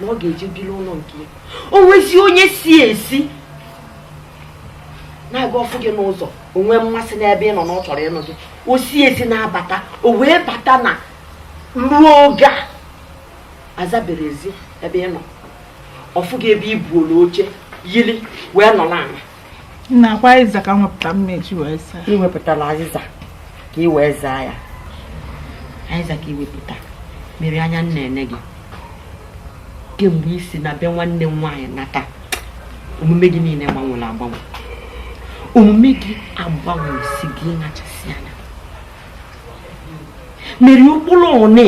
na ọ ga-eje biri ụlọ nke ya o nwezi onye si ezi na-aga ọfụ gị n'ụzọ o nwee mmasị n'ebe ị nọ na ọ chọrọ ịnụ gị o si ezi na-abata o wee bata na ruo oge a azabere ezi ebe ị nọ ọfụ gị ebe i buola oche yiri wee nọ n'ala nne ọkwa azịza ka m wepụta m eji wee zaa i wepụtala azịza ka ị wee zaa ya azịza ka i wepụta Mary anya m na-ene gị kemgbe i si na be nwanne m nwaanyị nata omume gị niile gbanwere agbanwe omume gị agbanwe si gị nachasị anya Mary ụkpụrụ niile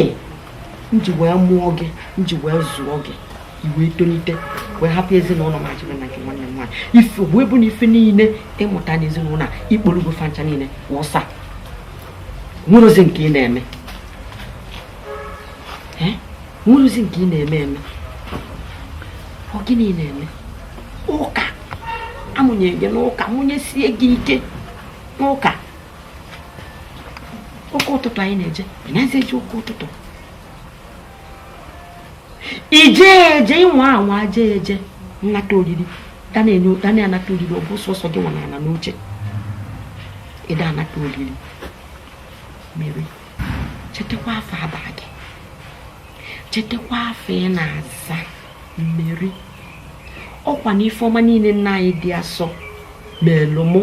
m ji wee mụọ gị m ji wee zụọ gị i wee tolite wee hapụ ezinụlọ m a jebe na nke nwanne m nwaanyị ife wee bụ na ife niile ị mụta n'ezinụlọ a i kpolugo fa ncha niile wụsa nwerozi nke ị na-eme nwerozi nke ị na-eme eme ọ gịnị na-eme ụka a mụnye gị n'ụka mụnyesie gị ike n'ụka ụka ụtụtụ anyị na-eje ị nazi eje ụka ụtụtụ i jee eje ị nwa anwa jee eje nnata oriri a na-anata oriri ọ bụ sọsọ gị nwa nọ ala n'oche ị da anata oriri Mary chetakwa afa a bara gị chetakwa afa ị na-aza Mary ọkwa na ife ọma niile nne anyị dị asọ melụ mụ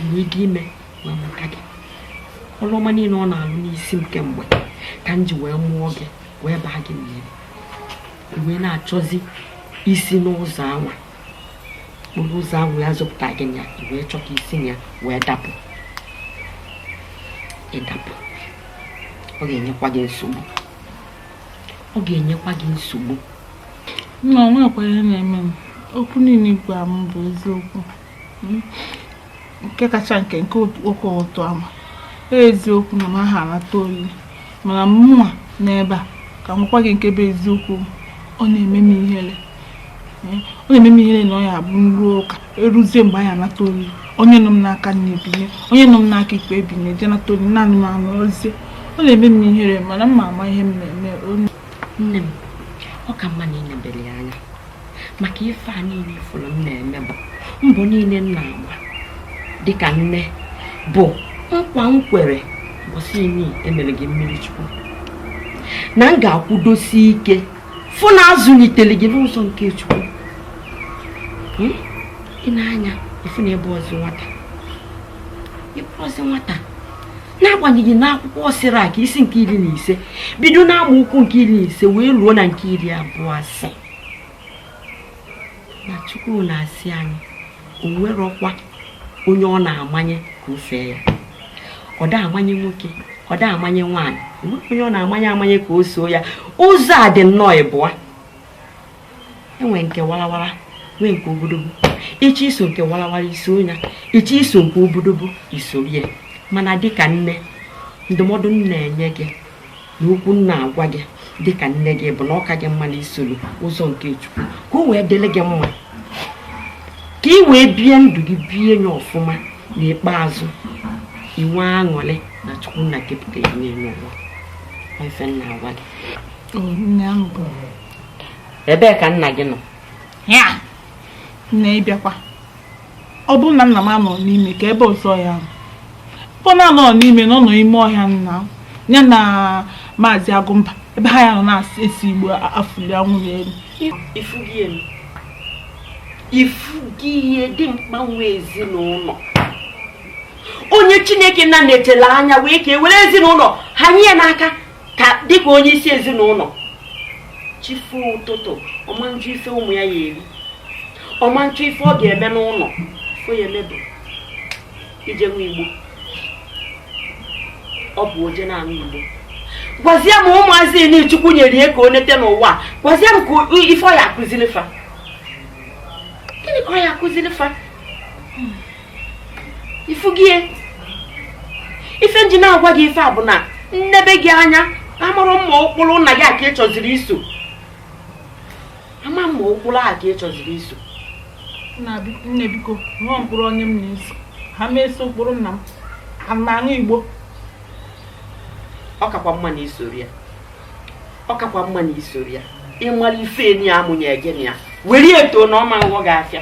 m ji ime wee nweta gị ọrụ ọma niile ọ na-alụ n'isi m kemgbe ka m ji wee mụọ gị wee baa gị Mary i wee na-achọzi isi n'ụzọ anwa ụkpụrụ ụzọ anwa wee zụpụta gị na ya i wee chọọ ka i si na ya wee dapụ ị dapụ ọ ga-enyekwa gị nsogbu ọ ga-enyekwa gị nsogbu nne onwe ekweghị na-eme m okwu niile ị gwa m bụ eziokwu nke kacha nke nke ụka ụtụtụ ama eziokwu na m aha anata oriri mana mụ nwa n'ebe a ka m gwa gị nke bụ eziokwu ọ na-eme m ihere ọ na-eme m ihere na ọ ya abụ m ruo ụka eruzie mgbe a ya anata oriri onye nọ m n'aka nni ebinie onye nọ m n'aka ekpe ebinie je nata oriri naanị m anọzie ọ na-eme m ihere mana m ma ama ihe m na-eme nne m ọ ka mma na ị nebere ya anya maka ife a niile ị fụrụ m na-eme bụ mbọ niile m na-agba dịka nne bụ nkwa m kwere mbọsị imi emere gị mmiri chukwu na m ga-akwụdosi ike fụ na azụlitere gị n'ụzọ nke chukwu hmm? ị na-anụ ya ị fụ na ị bụrọzi nwata ị bụrọzi nwata n'agbanyeghị na akwụkwọ sirak isi nke iri na ise bido na agba okwu nke iri na ise wee ruo na nke iri abụọ asị na chukwu na-asị anyị o nwerọkwa onye ọ na-amanye ka o fee ya ọ da amanye nwoke ọ da amanye nwaanyị o nweghị onye ọ na-amanye amanye ka o soo ya ụzọ a dị nnọọ ịbụa e nwee nke warawara nwee nke obodobo ị chọọ iso nke warawara i soo ya ị chọọ iso nke obodobo i soro ya mana dịka nne ndụmọdụ m na-enye gị na okwu m na-agwa gị dị ka nne gị bụ na ọ ka gị mma na i soro ụzọ nke chukwu ka o wee dịrị gị mma ka ị wee bie ndụ gị bie ya ọfụma n'ikpeazụ i nwee aṅụrị na chukwu nna kepụta gị n'elu ụwa ife m na-agwa gị ebee ka nna gị nọ nne ị bịakwa ọ bụrụ na nna m anọ n'ime kee ebe ọzọ ọ ya-anọ. ebe ọ na-anọ n'ime na ọ nọ ime ọhịa nna m, ya na maazị agụmba ebe ha ya nọ na-ese igbo a- afụli anwụrụ n'elu ị fụgo ya ị fụgo ya dimkpa nwe ezinụlọ onye chineke nna nechara anya wee kee were ezinụlọ a nye ya n'aka ka dịka onye isi ezinụlọ chi foo ụtụtụ ọ ma nchọ ife ụmụ ya ya-eri ọ ma nchọ ife ọ ga-eme n'ụlọ ife ọ ya-eme bụ ije ṅụwa igbo ọ bụ o je na-aṅụ igbo gwazie m ụmụazị niile chukwu nyere ya ka o nete n'ụwa gwazie m kee ife ọ ya akụziri fa gịnị ka ọ ya akụziri fa ị fụgo ya ife m ji na-agwa gị ife a bụ na m nebe gị anya amarọ m ma ụkpụrụ nna gị a ka ị chọziri iso ama m ma ụkpụrụ a ka ị chọziri iso nne biko enwe m ụkpụrụ onye m na-eso ama m eso ụkpụrụ nna m a na-aṅụ igbo ọ kakwa mma na i sorọ ya ọ kakwa mma na i sorọ ya ị mara ife enyi ya amụnye gị na ya were eto na ọ ma nghọ gị afịa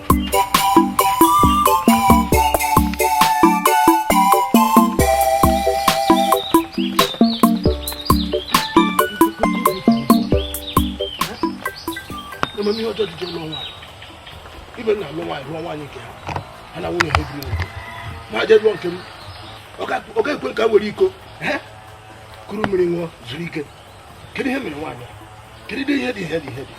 emere m ihe ọjọọ ji je lụọ nwaanyị ibe m na-alụ nwaanyị lụọ nwaanyị nke ha ha na nwunye ha ebiri nwoke ma m jee lụọ nke m ọ ga-ekwe ka m were iko kuru mmiri ṅụọ zuru ike kedu ihe mere nwaanyị kedu ihe dị ihe dị ihe dị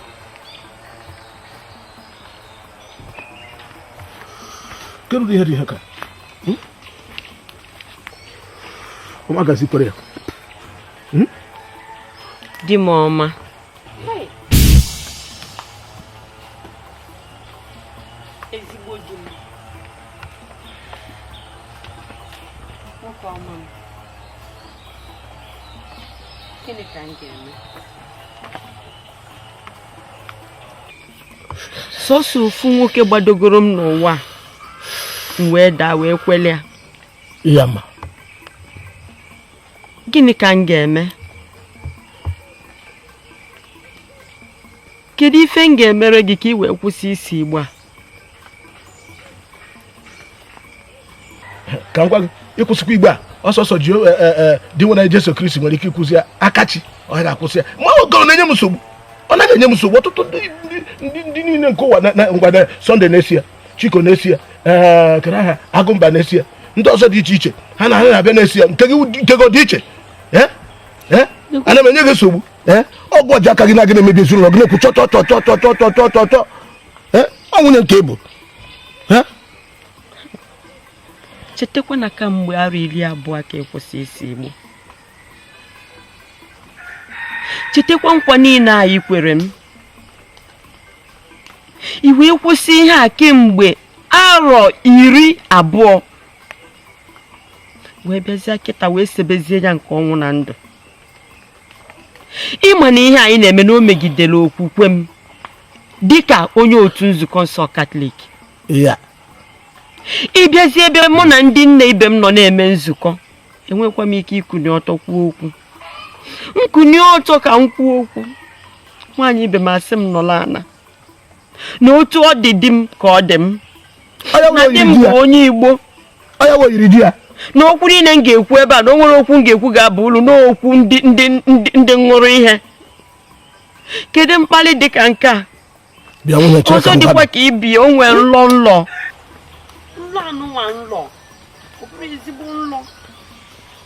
kedu ihe dị ihe ka hmm? ọma gazi kwere ya hmm? di m ọma sọsọ ofu nwoke gbadogoro m n'ụwa m wee daa wee kwele ya ya ma gịnị ka m ga-eme kedu ife m ga-emere gị ka ị wee kwụsị ise igbo a ka m gwa gị ịkwụsịkwa igbo a ọ sọsọ ji e, e, e, Dinwenụ Jesu Kristi nwere ike ịkwụsị ya aka chi ọ ga-akwụsị ya ma ọ gị na-enye m nsogbu ọ naghị enye m nsogbu ọtụtụ ndị niile nke ụwa ngwada Sunday na-ese ya Chiko na-ese ya kere aha Agụmba na-ese ya ndị ọzọ dị iche iche ha na ha na-abịa na-ese ya nke gị dị iche ana m enye gị nsogbu ọ gị ji aka gị na gị na-emebi ezinụlọ gị na-ekwu chọchọchọchọchọchọchọchọ ọ nwunye nke bụ chetakwa na kamgbe arọ iri abụọ ka ị kwụsị ise igbo chetakwa nkwa niile a i kwere m i wee kwụsị ihe a kemgbe arọ iri abụọ wee bịazie kịta wee sebezie ya nke ọnwụ na ndụ ị ma na ihe anyị na-eme na o megidere okwukwe m dịka onye otu nzukọ nsọ katọlik ya ị bịazi ebe mụ na ndị nne ibe m nọ na-eme nzukọ enwekwa m ike ikuni ọtọ kwuo okwu m kunie ọtọ ka m kwuo okwu nwaanyị ibe m asị m nọlụ ana na otu ọ dị di m ka ọ dị m na di m bụ onye igbo na okwu niile m ga-ekwu ebe a na o nwerọ okwu m ga-ekwu ga-aba ulu n'okwu ndị ndị ndị ṅụrụ ihe kedu mkpali dị ka nke a ọzọ dịkwa ka ibi o nwere nlọ m lọ nlọ anụnwa m lọ ọ bụrọ ezigbo nlọ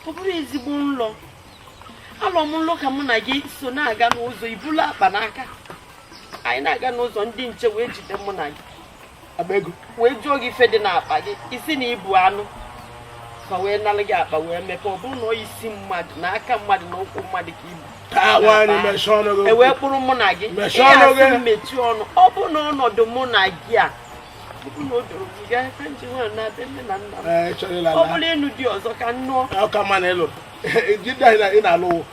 ọ bụrọ ezigbo nlọ alọ m nlọ ka mụ na gị so na-aga n'ụzọ i bulu akpa n'aka anyị na-aga n'ụzọ ndị nche wee jide mụ na gị wee jụọ gị ife dị n'akpa gị ị sị na i bu anụ fa wee nalụ gị akpa wee mepee ọ bụrụ na ọ isi mmadụ na aka mmadụ na ụkwụ mmadụ ka i bu e wee kpụrụ mụ na gị ihe asị mmechi ọnụ ọ bụ na ọnọdụ mụ na gị a ọ bụ na o doro gị gaa ka nji nwa na-adị nne na nna m ọ bụrụ ịnụ di ọzọ ka m nụọ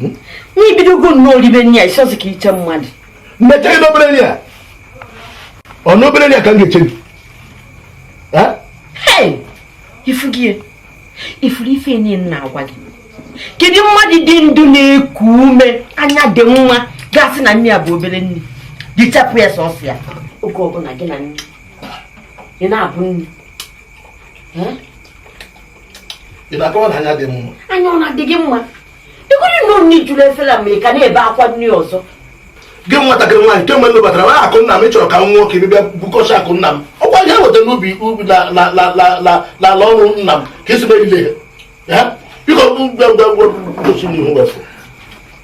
hmm? na i bidogo nnọọ iribe nri a ịsọzi ka iche mmadụ mmecha gị n'obere nri a ọ n'obere nri a ka m ga-eche gị ifu gị ị fụrụ ife anyị na-agwa gị kedu mmadụ dị ndụ na-eku ume anya dị mma ga-asị na nri a bụ obere nri gị chapụ ya sọsọ ya oge ọbụla gị na nri ị na-abụ nri ị na-akọwa na anya dị mma anya ọ na-adị gị mma ịgụrụ na nri juru efere ma ị ka na-ebe akwa nri ọzọ gị nwatakịrị nwaanyị kemgbe ndị batara na akụ nna m ị chọrọ ka m nwụọ ka ị bịa bukọcha akụ nna m ọkwa ihe weta n'ubi ubi n'ala ọrụ nna m ka i si mebile ya biko gosi n'ihu wefụ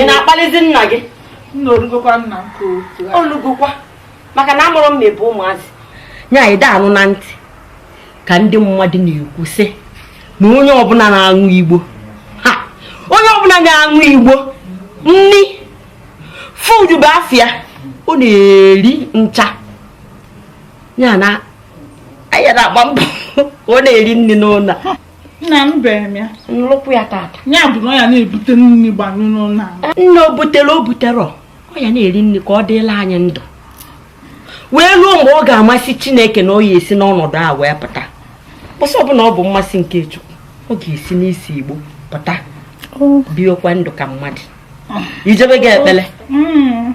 ị na-akpalizi nna gị o lugokwa maka na a mụrụ m na be maazị nya ị anụ na ntị ka ndị mmadụ na-ekwu sị na onye ọbụla na-aṅụ igbo ha onye ọbụla na-aṅụ igbo nri fudu bụ afịa ọ na-eri ncha ya na anya na-agba mbọ ọ na-eri nri n'ụlọ nna m bere m ya nlụkwụ ya tata ya bụ na ọ ya na-ebute nri gbanyụ n'ụlọ ahụ nna o butere o butere ọ ọ ya na-eri nri ka ọ dịla anyị ndụ wee ruo mgbe ọ ga-amasị chineke na ọ ya-esi n'ọnọdụ a wee pụta mbọsị ọbụla ọ bụ mmasị nke chukwu ọ ga-esi n'isi igbo pụta biekwa ndụ ka mmadụ ijebe gị ekpere Mm.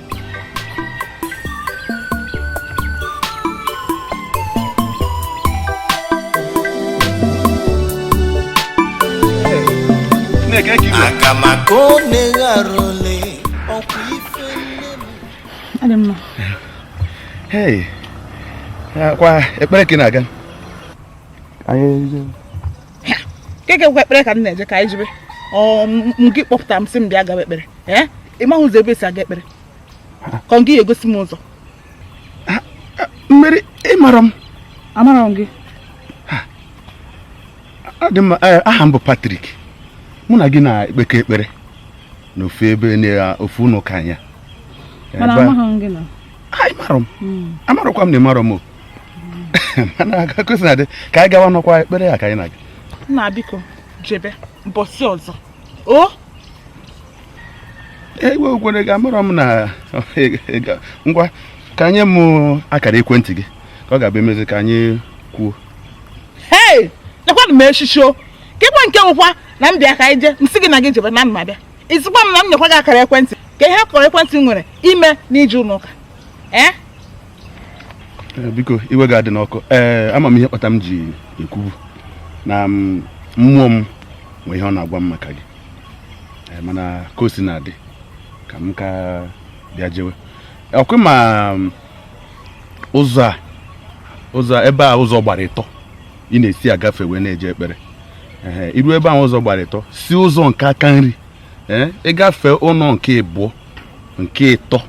aga m aga ọ na-eghara ole ọkwa ife nne m Adị mma. Hey, kwa ekpere ka ị na-aga anyị Keke kwa ekpere ka m na-eje ka anyị jebe. Ọ ngị kpọpụta m sị m bịa gaba ekpere. Ee? ị maghị ụzọ ebe esi aga ekpere ka ọ gị ya-egosi m ụzọ Mary ị marọ m amarọ m gị eh, aha m bụ Patrick mụ na gị na-ekpekọ ekpere na ofu ebe ofu ụlọ ụka anya mana amaghị m gị na anyị mara m hmm. amarọkwa m na ị marọ m o mana agakụsi na dị ka anyị gawanụ ọ kwa ekpere ya ka anyị na-aga nna biko jebe mbọsị ọzọ o ewe okwere gị amarọ m na ngwa ka nye mụ akara ekwentị gị ka ọ ga-abụ e mezie ka anyị kwuo hei lekwanụ m echichi o ka ịgba nke nwụkwa na m bịa ka anyị jee m sị gị na gị jebe na m ma-abịa ị sịkwa m na m nyekwa gị akara ekwentị kee ihe akara ekwentị nwere ime n'ije ụlọ ụka ee eh? Eh, biko iwe gị adịna ọkụ ee eh, ama m ihe kpata m ji ekwu bụ na mm, mmụọ m nwee ihe ọ na-agwa m maka gị eh, mana ka o sina dị ka m ka bịa jewe ọkwa ị ma mm, ụzọ a ụzọ ebe a ụzọ gbara ịtọ ị na-esi agafe wee na-eje ekpere i ruo ebe ahụ ụzọ gbara ịtọ si ụzọ nke aka nri ị gafee ụlọ nke ịbụọ nke ịtọ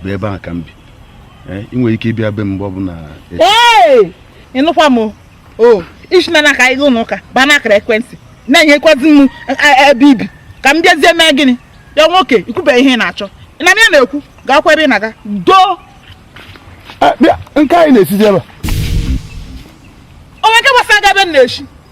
bụ ebe ahụ ka m bi Eh, ị nwere ike ịbịa be m mgbe ọbụla ị nụkwa m o i si na aka ịga ụlọ ụka baa na akara ekwentị na-enyekwazi m e, e, ebe i bi ka m bịazie mee gịnị ya nwoke i kwube ihe ị na-achọ na m ya na-ekwu gaakwa ebe ị na-aga doo eh, nke anyị na-esizi ebe o nwe nke gbasara gị ebe m na-eshi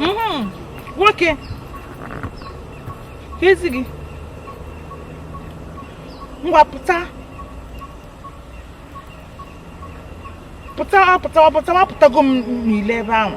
Mhm. nwoke keezi gị ngwa pụta pụta pụta pụta apụtago m n'ilo ebe ahụ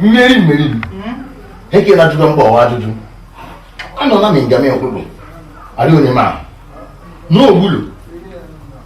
mmeri mmeri ekela ajụjụ mba ọwa ajụjụ anọ na mingame okpukpu adị onye ma n'ogbulu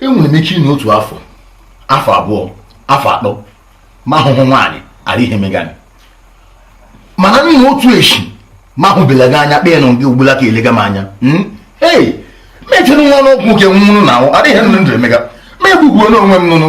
enwere m ike ịnọ otu afọ afọ abụọ afọ atọ m ahụhụ nwaanyị arị ihe mega m mana n'ihi otu echi m ahụbela gị anya kpee nụ gị ugbula ka elega m anya hmm? ee mechere nwa n'ọgwụ nke nwụrụ na ahụ adịghị ndụ emega ma egbugbuo n'onwe m nụnụ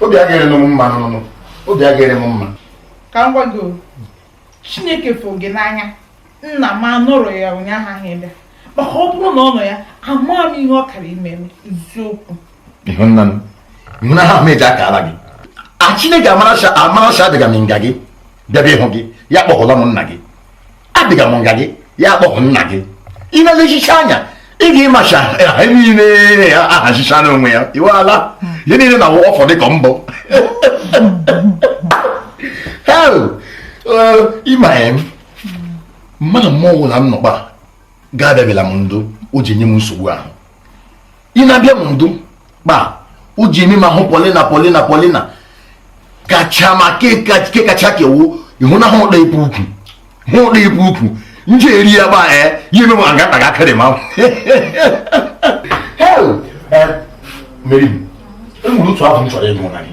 obi agaghị adị m mma n'ọnụ obi agaghị adị m mma ka m gwa gị chineke fụ gị n'anya nna m anọrọ ya ụnyaahụ ahụ ebe maka ọ bụrụ na ọ nọ ya ama m ihe ọ kara ime m eziokwu ịhụnanya m eji aka ala gị a chineke amarasha adịga m nga gị bịaba ịhụ gị ya kpọhụla m nna gị adịga m nga gị ya kpọpụ nna gị ị na-elechicha anya ị ga-ịmacha ha niile ya ahachicha n'onwe ya iwe ala ihe niile na ọfọ dị ka mbọ ịma ya mmadụ mmụọ ọbụla m nọkpa ga-abịabịala m ndụ o ji nye m nsogbu ahụ ị na-abịa m ndụ kpa o ji eme ma hụ Paulina Paulina Paulina kacha mma ke kacha kewu ịhụnahụ ụda ibu ukwu hụ ụda ibu ukwu nje eri ya gba ee ya eme ma ngata ga akịrị ma mmeri m enwere otu ahụ m chọrọ ịnụ na gị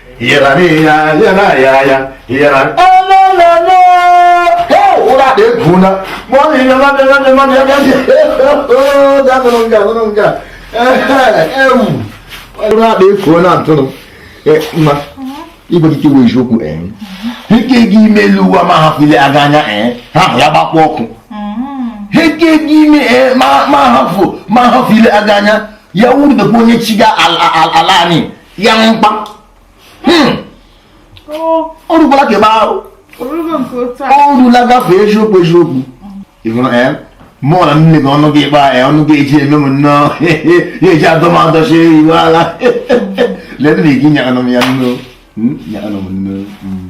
igwe gị kewe eziokwu ike gị ime elu ụwa ma hapụ ile aga anya ha ya gbakwa ọkụ ike gị ime ma hapụ ile aga anya ya wuru onye chi ga ala anyị ya mkpa hmm. ọ rụkwara ka ebe ahụ ọ rụla gafee eziokwu eziokwu ị hụrụ ya mụọ na nne gị ọnụ gị ịkpa ya ọnụ gị eji eme m nnọọ ya eji adọ m adọchi iwe ala lebe na gị nyakanụ m ya nnọọ hmm, nyakanụ m nnọọ hmm.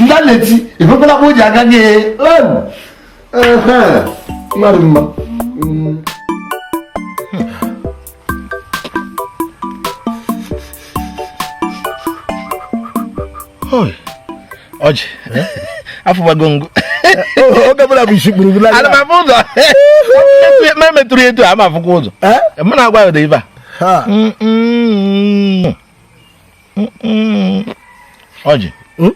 ndị a na-eti ebekwala bụ o ji aga gị mmadụ mma ọjị afụbago ngụ oge ọbụla bụ isi kpuru bụla ana m afụ ụzọ ma metụrụ etu a m afụkwa ụzọ mụ na-agwa ya ụda ibe a ọjị hmm?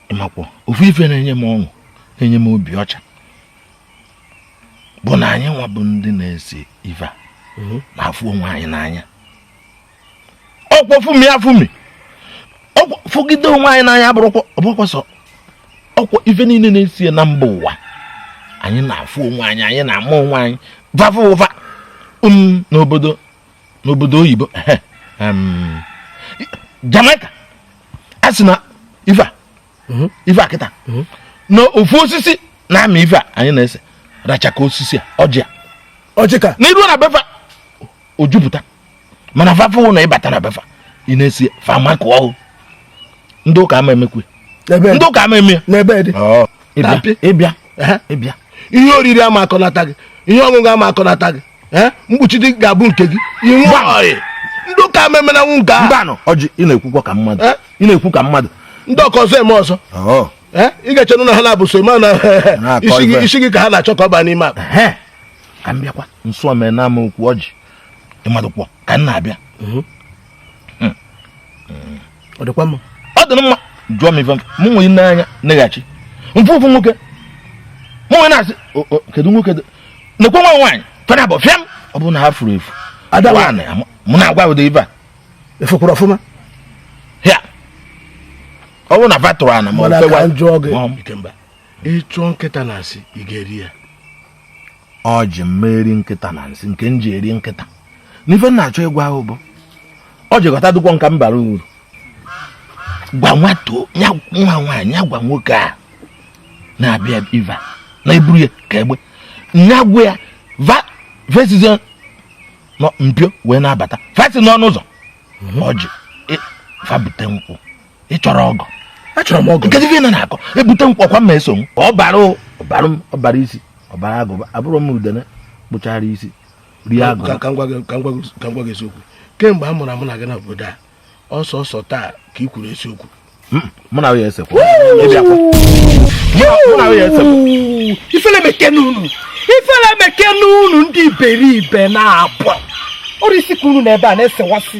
ị makwa ofu ife na-enye m ọṅụ na-enye m obi ọcha bụ na anyị nwa bụ ndị na-ese ife a hmm? na-afụ onwe anyị n'anya ọkwa fụmie afụmi fụgide onwe anyị n'anya bụrụkwa ọ bụkwa sọ ọkwa ife niile na-ese na mba ụwa anyị na-afụ onwe anyị anyị na-ama onwe anyị va fụ va um, n'obodo n'obodo oyibo em, Jamaica a sị na ife a ife a kịta na ofu osisi na-amị ife a anyị na-ese racha ka osisi a ọjị a ọjị ka na i ruo na be fa o juputa mana fa fụ na ị bata na be fa ị na-ese fa ama kụọ ndị ụka ama emekwe ebe ndị ụka ama eme ya n'ebe dị ị bịa ị bịa ihe oriri ama akọnata gị ihe ọṅụṅụ ama akọnata gị mkpuchi di ga-abụ nke gị inwe ndị ụka memenanwụ nke ahụ mbanụ ọjị ị na-ekwukwa ka mmadụ ị na-ekwu ka mmadụ ndị ọkọ ọzọ eme ọzọ ị ga-echenụ na ha na-abụ so mana isi gị ka ha na-achọ ka ọ baa n'ime akpa ka m bịakwa nso omena m okwu ọjị ị madụkwọ ka m na-abịa mhm. hmm. Hmm. ọ dịkwa mma ọ dị mma jụọ m ife mụ wee nee anya neghachi m fụ ofu nwoke mụ wee na-asị kedu nwoke nekwe nwa nwaanyị fa n'abọ fịam ọ bụrụ na ha furu efu mụ na-agwa ụdị ife a efukwuru ọfụma ya ọ bụrụ na fa tụrụ ana ma ọ fewa jụọ gị ị chụọ nkịta na nsị ị ga-eri ya ọjị m ma eri nkịta na nsị nke m ji eri nkịta n'ife m na-achọ ịgwa ị bụ ọjị ghọta dụkwọ nka m bara uru gwa nwata ya nwa nwaanyị ya gwa nwoke a na-abịa iva na-eburu ya ka egbe nya gwa ya va esizie mpio wee na-abata va si n'ọnụ ụzọ ọjị va bute nkwụ ị chọrọ ọgụ achọrọ m ọgụ nkezi na na-akọ ebute m kwakwa mma eso m ọ bara ọbara m ọ bara isi ọ bara agụba abụrụ m udene kpụchara isi rie agụ ka m gwa gị eziokwu kemgbe a mụrụ mụ na gị n'obodo a ọ sọsọ taa ka ị kwuru eziokwu hmm, mụ na ya esekwa mụ na ya esekwa ifele mekene unu ifele mekene unu ndị iberibe na-abụ ọrụ isi ka unu nọ ebe a na-esewasị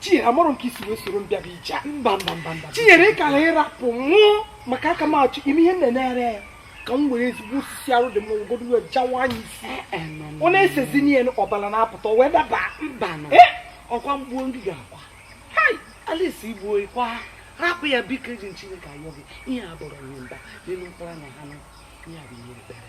Chinyere amarọ m nke i si wee soro m bịa bụ ije mba mba mba mba Chinyere ị kara ịrapụ nwụọ maka aka m achọ ime ihe m na-emere ya ka m were ezigbo osisi arụ dị mma ogodo wee jawaa ya isi eh, eh, ọ na-esezi n'ihe ọbara na-apụta wee daba mba eh! ọkwa m gbuo ngị ga-akwa Alice i gbuo ị kwaa rapụ ya biko eji m Chineke ayọ gị ihe a bụrụ ihe mba n'elu mkpụrụ na ha ihe a bụ ihe ekpere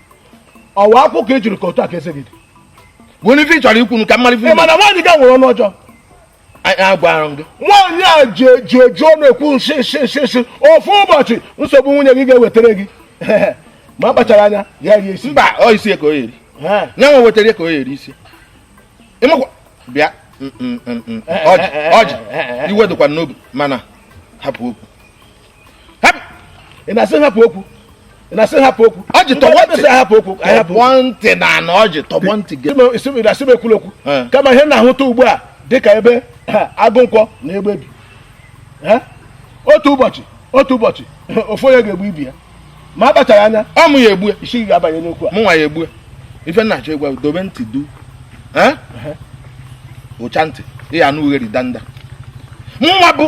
ọwa akụ ka e jiri ka otu a ka eze gị dị were ife ị chọrọ ikwu ka m malite ị ma na nwaanyị gị a nwere ọnụ ọjọọ agwara m gị nwaanyị a ji eji eji ọnụ ekwu nsi nsi nsi nsi ofu ụbọchị nsogbu nwunye gị ga-ewetara gị ma a kpachara anya ya rie isi mba ọ isi ka ọ ya-eri ya nwa wetara ka ọ ya-eri isi ị makwa bịa ọjị iwe dịkwa n'obi mana hapụ okwu ị na-asị hapụ okwu ị na-asị hapụ okwu ọjị tọgbọ ntị hapụ okwu tọgbọ ntị n'ana ọjị tọgbọ ntị gị ị na-asị m ekwula okwu kama ihe m na-ahụta ugbu a dịka ebe agụnkwọ na egbe bi otu ụbọchị otu ụbọchị ofu onye ga-egbu ibe ya ma a kpachara anya ọ mụ ya-egbu isi gị ga-abanye n'okwu a mụnwa ya-egbu ife m na-achọ ịgwa dobe ntị dụchaa ntị ị ya-anụ ughere danda mụnwa bụ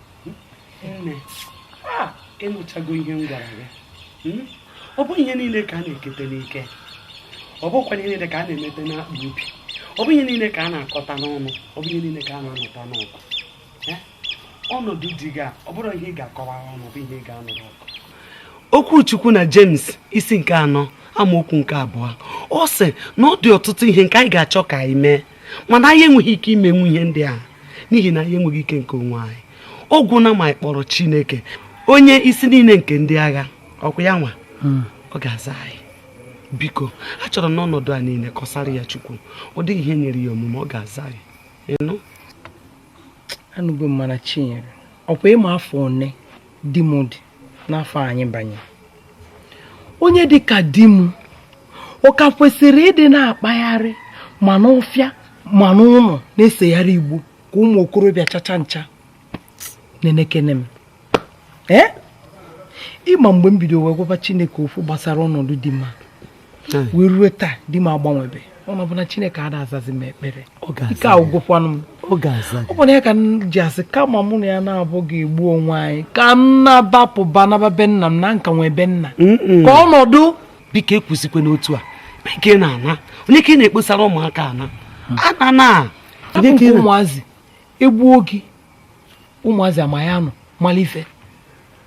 nne ị nụchago ihe m gwara gị hmm? ọ bụ ihe niile ka a na-ekete n'ike ọ bụkwa ihe niile ka a na-emete n'akpa obi ọ bụ ihe niile ka a na-akọta n'ọnụ ọ bụ ihe niile ka a na-anụta n'ọgụ eh? ọnọdụ di gị a ọ bụrọ ihe ị ga-akọwa ọnụ bụ ihe ị ga-anụrụ ọgụ okwu chukwu na James isi nke anọ amaokwu nke abụọ ọ sị na ọ dị ọtụtụ ihe nke anyị ga-achọ ka anyị mee mana anyị enweghị ike imenwu ihe ndị a n'ihi na anyị enweghị ike nke onwe anyị ọ gwụna ma anyị kpọrọ chineke onye isi niile nke ndị agha ọkwa ya nwa hmm. ọ ga-aza anyị biko achọrọ m n'ọnọdụ a niile kọsara ya chukwu ọ dịghị ihe nyịrị ya omume ọ ga-aza anyị ị nụ anụgo m mana chinyere ọkwa ị ma afọ one di m dị n'afọ anyị banye onye dị ka di m ọ ka kwesịrị ịdị na-akpagharị ma n'ọfịa ma n'ụnọ na-esegharị igbo ka ụmụ okorobịa chacha ncha nenekene m ee ị ma mgbe m bido wee gwaba chineke okwu gbasara ọnọdụ di m hmm. wee ruo taa di m agbanwebe ọ bụ na chineke ada azazi m ekpere ike agwụgokwanụ m ọ bụ nke a ka m ji asị kama mụ na ya naabọ ga-egbu onwe anyị ka m na-agbapụ gbanaba be nna m na m ka nwee be nna ka ọnọdụ biko ekwuzikwana otu a biko ị na-ana onye ka ị na-ekposara ụmụaka ana hmm. ana na ụmụazị egbuo gị ụmụazị ama ya nọ malụ ife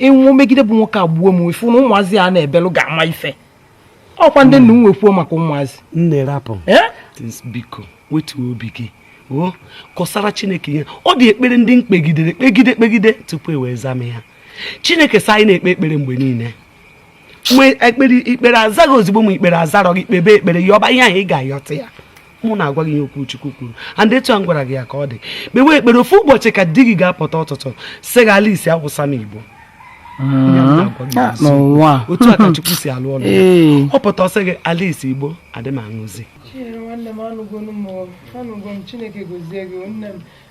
ịnwụ megide bụ nwoke a gbuo m ifu na ụmụazị a na-ebelụ ga-ama ife ọkwa m dị ndụ wee kwuo maka ụmụazị nne rapụ biko wetuo obi gị o kọsara chineke ihe ọ dị ekpere ndị m kpegidere kpegide kpegide tupu e wee zaa m ya chineke sị anyị na-ekpe ekpere mgbe niile mgbe ekpere i kpere azaa gị ozugbo ma i kpere azarọ gị kpebe ekpere yọba ihe ahụ ị ga-ayọta ya mụ na-agwa gị ihe okwu Chukwu kwuru and etu a m gwara gị ya ka ọ dị kpewe ekpere ofu ụbọchị ka di gị ga-apụta ụtụtụ sị gị Alice awụsa m igbo ihe m na-agwa gị otu a ka Chukwu si alụ ọlụ ee ọ pụta sị gị Alice igbo adị m aṅụzi Chinyere nwanne m anụgonu m o. anụgo m Chineke gozie gị o nne m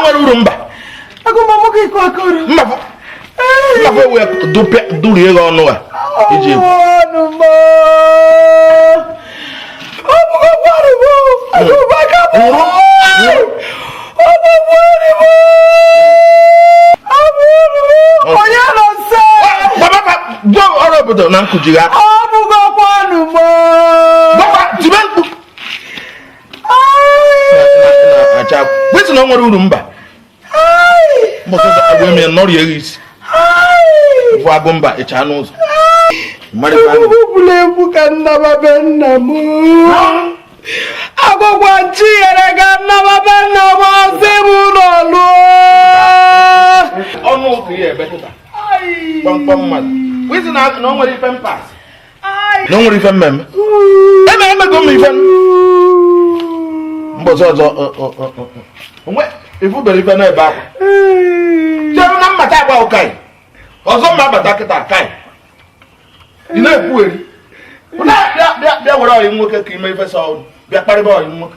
nwere uru mba mba mba wee durie gị ọnụ a iji egwu obodo na nkụjigharị wetụ na ọ nwere uru mba mbọsị ọzọ agwa eme nọrọ ya isi bụ Agụmba ịcha n'ụzọ egwuregwu ka m na-aba be nna m agwagwa nchi yere ka m na-aba be nna m ọ sị m ụlọ lụọ ọnụ ụzọ ya ebe kịta kpamkpam mmadụ wezi na o nwere ife mpas na o nwere ife m mere eme emego m ife mbọsị ọzọ o nwe ị fụbere ife na-ebe akwa chere na mmata agba ụkaị ọzọ m abata kịta ka ị na-ekwugheri bịa were ọyị nwoke ka ime ife sọ ọrụ bịa kparịba ọyị nwoke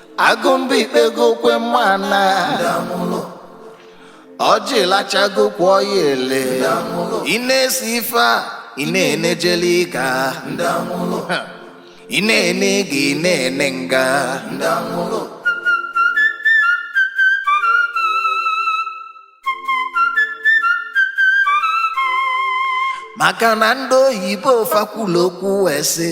Agụmba i kpego kwe mana ọjị lachago okwu ya ele ị na-esi ife a ị na-ene jail ka ị na-ene ịga ị na-ene nga maka na ndị oyibo fa kwulu okwu wee sị